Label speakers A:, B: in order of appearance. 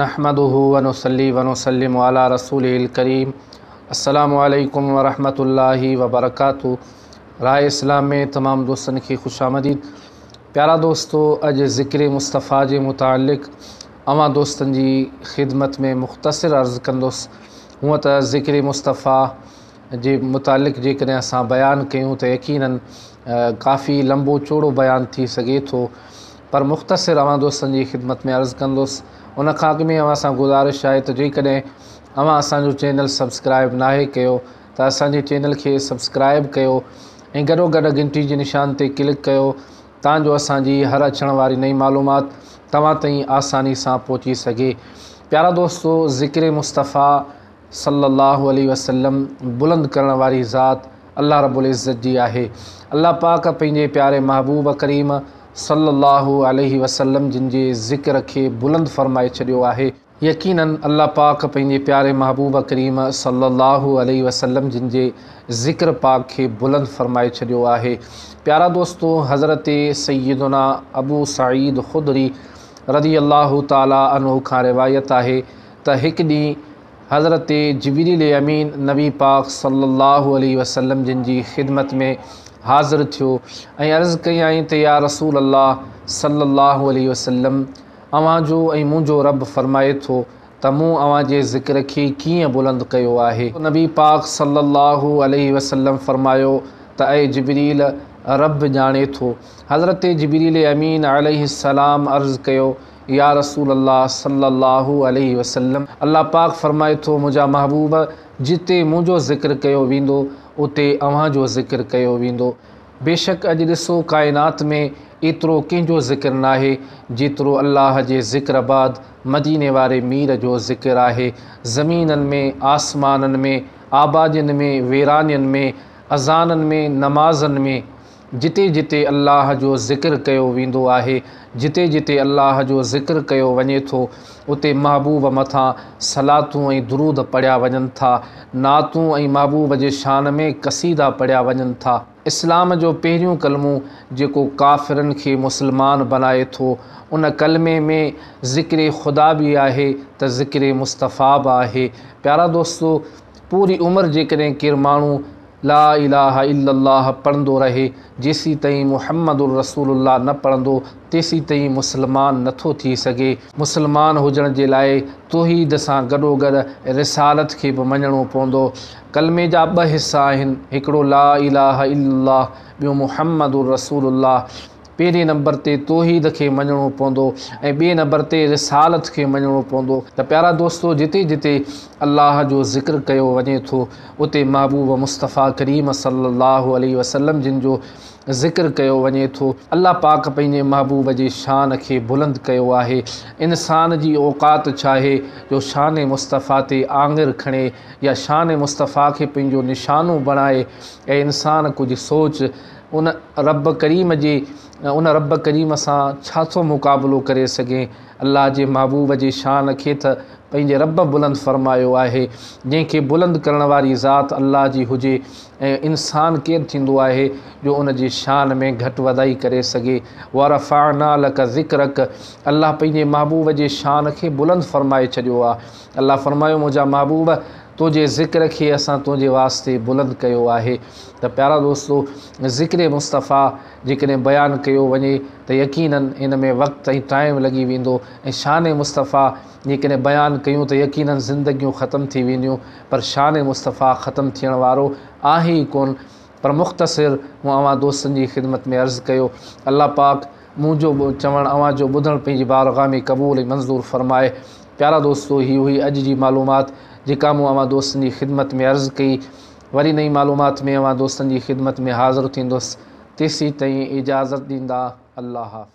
A: نحمده ونصلي ونسلم علي رسوله الڪريم السلام عليڪم ورحمة الله وبرڪاته راء اسلام ۾ تمام دوستن کي خوش آمديد پيارا دوستو اڄ ذڪر مصطفيٰ جي متعلق اوهان دوستن جي خدمت ۾ مختصر عرض ڪندس هونء ته ذڪر مصطفيٰ جي متعلق جيڪڏهن اسان بيان ڪيون ته يقينن ڪافي لمبو چوڙو بيان ٿي سگهي ٿو پر مختصر اوهان دوستن جي خدمت ۾ عرض ڪندس ان کان اڳ ۾ اوهان سان گذارش آهي ته جيڪڏهن اوهان اسان جو چينل سبسڪرائب ناهي ڪيو ته اسان جي چينل کي سبسڪرائب ڪيو ۽ گڏو گڏ گهنٽي جي نشان تي ڪلڪ ڪيو تان جو اسان جي هر اچڻ واري نئين معلومات توهان تائين آساني سان پهچي سگهي پيارا دوستو ذڪر مصطفيٰ صلّي اللّٰه عليه وسلّم بلند ڪرڻ واري ذات الله رب العزّت جي آهي. الله پاڪ پنهنجي پياري محبوب ڪريم صلّي اللّٰه عليه وسلّم جن جي ذڪر کي بلند فرمائي ڇڏيو آهي. يقيناً الله پاڪ پنهنجي پياري محبوب ڪريم صلّي اللّٰه عليه وسلّم جن جي ذڪر پاڪ کي بلند فرمائي ڇڏيو آهي. پيارا دوستو! حضرت سيّدنا ابو سعيد خدري رضي الله تعالٰي عنه کان روايت آهي ته هڪ ڏينهن حضرت جبريل امين نبي پاڪ صلي الله عليه وسلم جن جي خدمت ۾ حاضر ٿيو ۽ عرض ڪيائين ته يا رسول الله صلي الله عليه وسلم اوهان جو ۽ منهنجو رب فرمائي ٿو ته مون اوهان جي ذڪر کي ڪيئن بلند ڪيو آهي؟ نبي پاڪ صلي الله عليه وسلم فرمايو ته اي جبريل رب ڄاڻي ٿو. حضرت جبريل امين عليه السلام عرض ڪيو يا رسول الله صلّي الله عليه وسلّم! الله پاڪ فرمائي ٿو، منهنجا محبوب! جتي منهنجو ذڪر ڪيو ويندو، اتي اوهان جو ذڪر ڪيو ويندو. بيشڪ اڄ ڏسو ڪائنات ۾ ايترو ڪنهن جو ذڪر ناهي، جيترو الله جي ذڪر بعد مديني واري مير جو ذڪر آهي. زمينن ۾، آسمانن ۾، آبادين ۾، ويرانين ۾، اذانن ۾، نمازن ۾، جتي جتي الله جو ذڪر ڪيو ويندو آهي، جتي جتي الله جو ذڪر ڪيو وڃي ٿو، اتي محبوب مٿان صلاتون ۽ درود پڙهيا وڃن ٿا، نعتون ۽ محبوب جي شان ۾ قصيدا پڙهيا وڃن ٿا. اسلام جو پهريون ڪلمو جيڪو ڪافرن کي مسلمان بنائي ٿو، ان ڪلمي ۾ ذڪر خدا به آهي ته ذڪر مصطفيٰ به آهي. پيارا دوستو! پوري عمر جيڪڏهن ڪير ماڻهو. لا اله الا الله پڙهندو رهي، جيسيتائين محمد رسول الله نه پڙهندو، تيسيتائين مسلمان نه ٿو ٿي سگهي. مسلمان هجڻ جي لاء توحيد سان گڏوگڏ رسالت کي به مڃڻو پوندو. ڪلمي جا ٻه حصا آهن، هڪڙو لا اله الا الله، ٻيو محمد رسول الله. پهرين نمبر تي توحيد کي مڃڻو پوندو ۽ ٻئي نمبر تي رسالت کي مڃڻو پوندو ته پيارا دوستو جتي جتي الله جو ذڪر ڪيو وڃي ٿو اتي محبوب مصطفيٰ ڪريم صلي الله عليه وسلم جن جو ذڪر ڪيو وڃي ٿو الله پاڪ پنهنجي محبوب جي شان کي بلند ڪيو آهي انسان جي اوقات ڇاهي جو شان مصطفيٰ تي آڱر کڻي يا شان مصطفيٰ کي پنهنجو نشانو بڻائي اي انسان ڪجهه سوچ ان رب ڪريم جي ان رب ڪريم سان ڇا ٿو مقابلو ڪري سگهين؟ الله جي محبوب جي شان کي تھ پنھنجي رب بلند فرمايو آھي، جنھن کي بلند ڪرڻ واري ذات الله جي ھجي ۽ انسان ڪير ٿيندو آھي جو ان جي شان ۾ گهٽ وڌائي ڪري سگهي؟ ورفعنا لک ذڪرک الله پنھنجي محبوب جي شان کي بلند فرمائي ڇڏيو آھي. الله فرمايو منهنجا محبوب! تنهنجي ذڪر کي اسان تنهنجي واسطي بلند ڪيو آهي ته پيارا دوستو! ذڪر مصطفيٰ جيڪڏهن بيان ڪيو وڃي ته يقيناً ان ۾ وقت ۽ ٽائيم لڳي ويندو ۽ شان مصطفيٰ جيڪڏهن بيان ڪيون ته يقيناً زندگيون ختم ٿي وينديون پر شان مصطفيٰ ختم ٿيڻ وارو آهي ئي ڪونه پر مختصر مون اوهان دوستن جي خدمت ۾ عرض ڪيو الله پاڪ منهنجو چوڻ اوهان جو ٻڌڻ پنهنجي بارگاهه ۾ قبول ۽ منظور فرمائي پيارا دوستو هي هئي اڄ جي معلومات جيڪا مون اوهان دوستن جي خدمت ۾ عرض ڪئي وري نئين معلومات ۾ اوهان دوستن جي خدمت ۾ حاضر ٿيندس تيسين تائين اجازت ڏيندا الله حافظ.